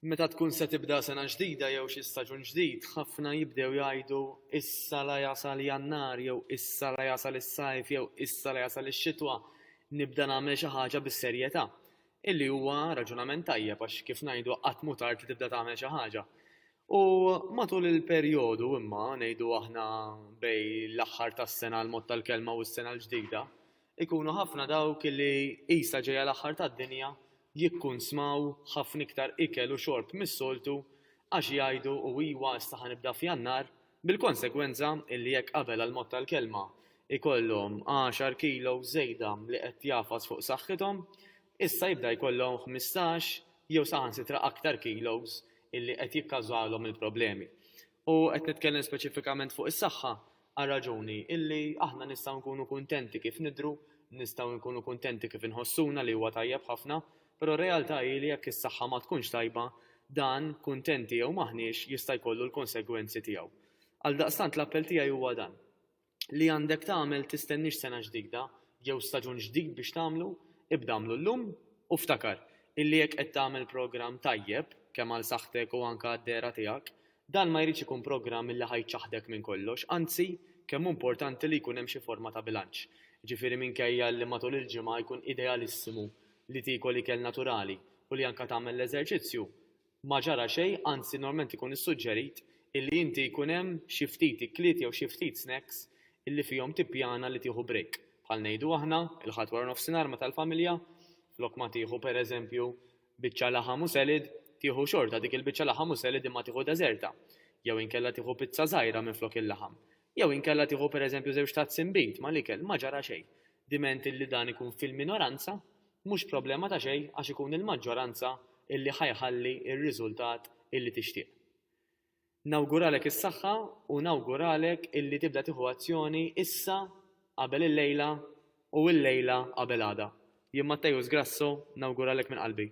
Meta tkun se tibda sena ġdida jew xi staġun ġdid, ħafna jibdew jgħidu issa la jasal Jannar jew issa la jasal is-Sajf jew issa la jasal ix-Xitwa, nibda nagħmel xi ħaġa bis-serjetà. Illi huwa raġunament tajjeb għax kif ngħidu qatt mhu tard li tibda tagħmel xi ħaġa. U matul il-perjodu imma, ngħidu aħna bejn l-aħħar tas-sena l-mod tal-kelma u s-sena l-ġdida, Ikunu ħafna dawk li, qisha ġejja l-aħħar tad-dinja, jikkunsmaw ħafna iktar ikel u xorb mis-soltu għax jgħidu, u iwa, issa ħa nibda f'Jannar, bil-konsegwenza illi jekk qabel għall-mod tal-kelma jkollhom għaxar kilos żejda li qed jagħfas fuq saħħithom, issa jibda jkollhom ħmistax jew saħansitra aktar kilos illi qed jikkawżalhom il-problemi. U qed nitkellem speċifikament fuq is-saħħa, Għal raġuni illi aħna nistgħu nkunu kuntenti kif nidhru, nistgħu nkunu kuntenti kif inħossuna li huwa tajjeb ħafna, però r-realtà hi li jekk is-saħħa ma tkunx tajba, dan, kuntenti jew m'aħniex, jista' jkollu l-konsegwenzi tiegħu. Għaldaqstant l-appell tiegħi huwa dan, li għandek tagħmel tistenniex sena ġdida jew staġun ġdid biex tagħmlu, ibda agħmlu llum u ftakar illi jekk qed tagħmel programm tajjeb, kemm għal saħħtek u anke għad-dehra tiegħek, Dan ma jridx ikun programm li ħa jċaħħdek minn kollox, anzi, kemm hu importanti li jkun hemm xi forma ta' bilanċ. Jiġifieri minkejja li matul il-ġimgħa jkun idealissimu li tiekol ikel naturali u li anke tagħmel l-eżerċizzju, ma ġara xejn, anzi normalment ikun issuġġerit illi inti jkun hemm xi ftit ikliet jew xi ftit snacks illi fihom tippjana li tieħu break, bħal ngħidu aħna, il-Ħadd waranofsinhar meta l-familja, flok ma tieħu, pereżempju, Biċċa laħam u selid, tieħu xorta dik il-biċċa laħam u selid imma tieħu deżerta. Jew inkella tieħu pizza żgħira minflok il-laħam. Jew inkella tieħu pereżempju żewġ tazzi nbid mal-ikel, ma ġara xejn. Diment illi dan ikun fil-minoranza, mhux problema ta' xejn għax ikun il-maġġoranza illi ħa jħalli r-riżultat illi tixtieq. Nawguralek is-saħħa u nawguralek illi tibda tieħu azzjoni issa qabel illejla u illejla qabel għada. Jien Matteus Grasso nawguralek minn qalbi.